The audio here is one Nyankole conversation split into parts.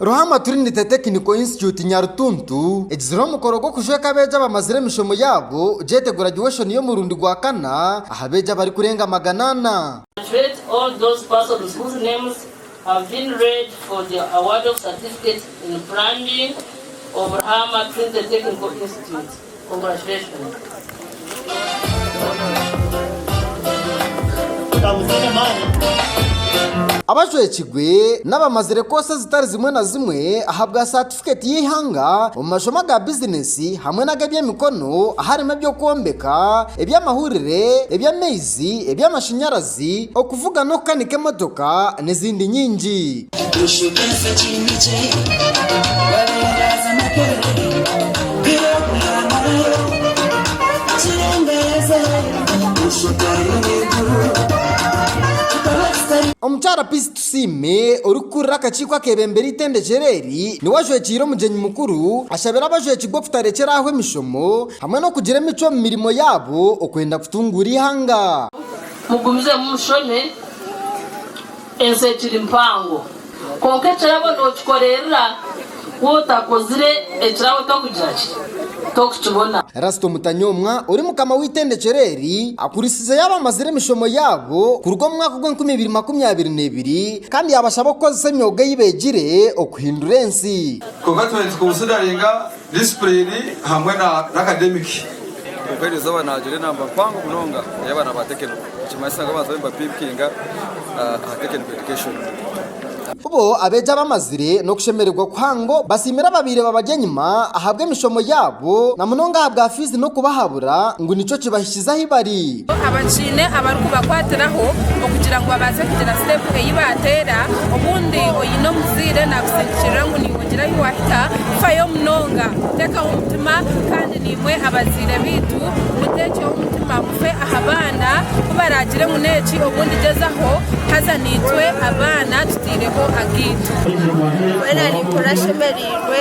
Ruhama Trinity Technical Institute Nyarutuntu egizire omukoro gw'okujweka abeegi abamazire emishomo yaabo JETE Graduation y'omurundi gwa kana aha beegi abarikurenga magana ana. Abajwekirwe n'abamazire koosi ezitari zimwe na zimwe ahabwa satifiketi y'eihanga omu mashomo aga bizineesi hamwe n'ag'ebyemikono aharimu eby'okwombeka, eby'amahurire, eby'amaizi, eby'amashanyarazi, amashanyarazi, okuvuga n'okukanika emotoka n'ezindi nyingi. Omukyara Peace Tusiime orikukurira akakiiko akeebembire eitendekero eri niwe ajwekiire omugyenyi mukuru ashabire abajwekirwe okutarekyera aho emishomo hamwe n'okugira emicwe omu mirimo yaabo okwenda kutunguura eihanga. Mugumizemu mushome, ensi ekiri mpango. Kwonka ekirabo nokikorerera waaba otakozire ekirabo tokugira ki? Tokukibona. Rasita Omutanyomwa ori mukama w'eitendekyero eri akurisize yaaba amazire emishomo yaabo kuruga omu mwaka ogw'enkumi ibiri makumi abiri n'ebiri kandi yabashaba okukozesa emyoga ei begire okuhindura ensi. Kwonka twena tikubusidaringa Disipulini hamwe na akademiki. Kwonka eri izooba naagira enamba mpango munonga ey'abaana ba tekiniko, nikimanyisa ngu abaantu bariyo nibapimpinga aha tekiniko edikeshoni. Bo abeegi abamazire n'okushemererwa kuhango basiimire ababaire babari enyima ahabw'emishomo yaabo na munonga ahabwa fiizi n'okubahabura ngu nikyo kibahikirize. kuhikiriza ahi bari. Abakiine abarikubakwatiraho okugira ngu babaase kugira sitepu ei baateera. Obundi oine omuzaire naakusindikirira ngu niiwe ogira ahi waahika. Fayo munonga, teekaho omutima kandi naimwe abazaire baitu muteekyeho omutima mufe aha baana ku baraagire ngu n'eki obundi gyezaho haza naitwe abaana tuteireho agaitu. Mbwenu areekurashemereirwe.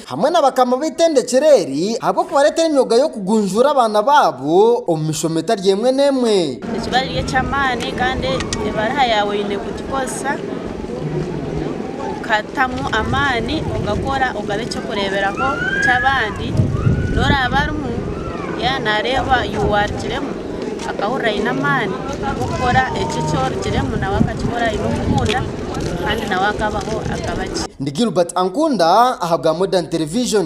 hamwe na bakama b'eitendekyero eri ahabw'okubareetera emyoga y'okugunjuura abaana baabo omu mishomo etari emwe n'emwe. Ekibara eri eky'amaani kandi ebariha yaawe oine kugikozesa kutamu amaani ogakora ogaba eky'okureeberaho ky'abandi n'oraaba arimu yaawe naareeba you are kiremwa. akahurira aine amaani g'okukora ekyo eki orugiremu nawe akakikora aine okukunda kandi nawe akabaho akaba gye. Ndi Gilbert Ankunda aha bwa Modern Television.